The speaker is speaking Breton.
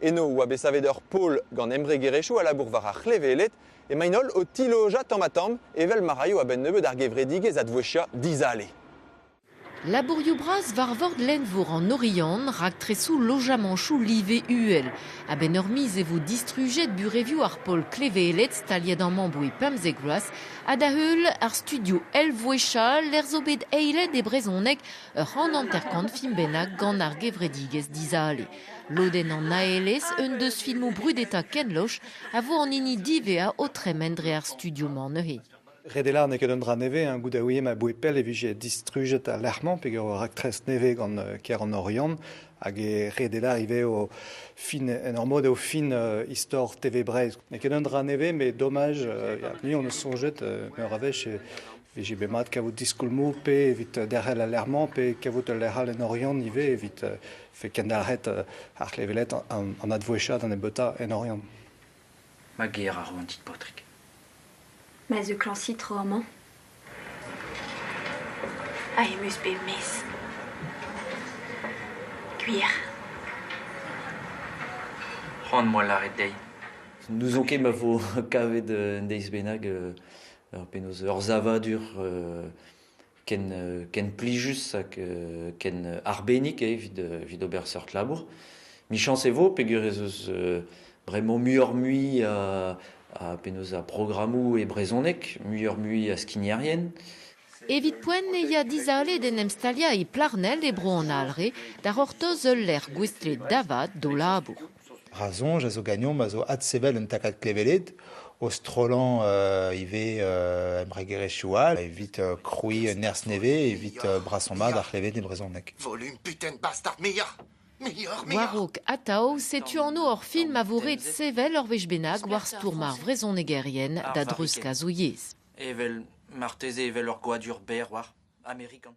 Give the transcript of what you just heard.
Eno e oa bet savet ur pol gant embregerezhioù a labour war ar c'hleveled emaint-holl o tilojañ tamm-ha-tamm evel ma raio a-benn-nebeut ar gevredigezh advouezhiañ dizale. Labourioù bras war vord lenn-vor an Oriant, raktresoù lojamanchoù live uhel. A-benn ur miz e vo distrujet burevioù ar pol kleveled staliet amañ boe pemzek vloaz ha da-heul ar studio Elvouéchat lec'h zo bet eilet e brezhoneg ur c'hant hanter-kant film bennak gant ar gevredigezh dizale. Lodenn an aelez un deus filmoù brudetañ Ken Loach a vo an hini diwezhañ o tremen dre ar studio-mañ neuze. Redela n'eo ket un dra nevez, hein, goude ouie ma boued pell e vije distrujet al lec'h-mañ peger ur raktres nevez gant kêr an Oriant hag e Redela ivez o fin, en ur mod eo fin uh, istor TV Breizh. N'eo ket un dra nevez, mais dommage, uh, ya, ni on eus soñjet uh, meur a wech e vije bet mat kavout diskoulmoù pe evit derc'hel al lec'h-mañ pe kavout ul lec'h all en Oriant ivez evit uh, fait kendalc'het ar c'hleveled an advouezhiañ da nebeutañ en Oriant. Ma ger a ro an dit paotrig. Ma zeuklañsit tro amañ. Ha em eus bet mes. Gwir. C'hoant moa lâret dezhi. N'ouzon ket ma vo kavet un deiz bennak ur penaos ur savadur ken, ken plijus hag ken arbennik eo evit, evit ober seurt labour. Michañs e vo peger ez eus bremañ muioc'h-mui a, a penaos a programmoù e brezhoneg, muioc'h-mui a skignerien. Evit poent e ya dizale d'en em staliañ e Plarnel e Bro an Alre da c'hortoz ul lec'h gouestlet da vat d'o labour. Ra soñj a zo ganeomp a zo adsevel un takad kleveled o strollañ ivez embregerezhioù all evit krouiñ un nerzh nevez evit brasañ-mat ar c'hleved e brezhoneg. Volume putain bastard muioc'h Muioc'h, muioc'h War-raok atav, setu anv hor film a vo ret sevel ur wech bennak war stourm ar vrezhonegerien da dreuzkazoù yezh. Evel marteze evel ur goadur berr war Amerikan.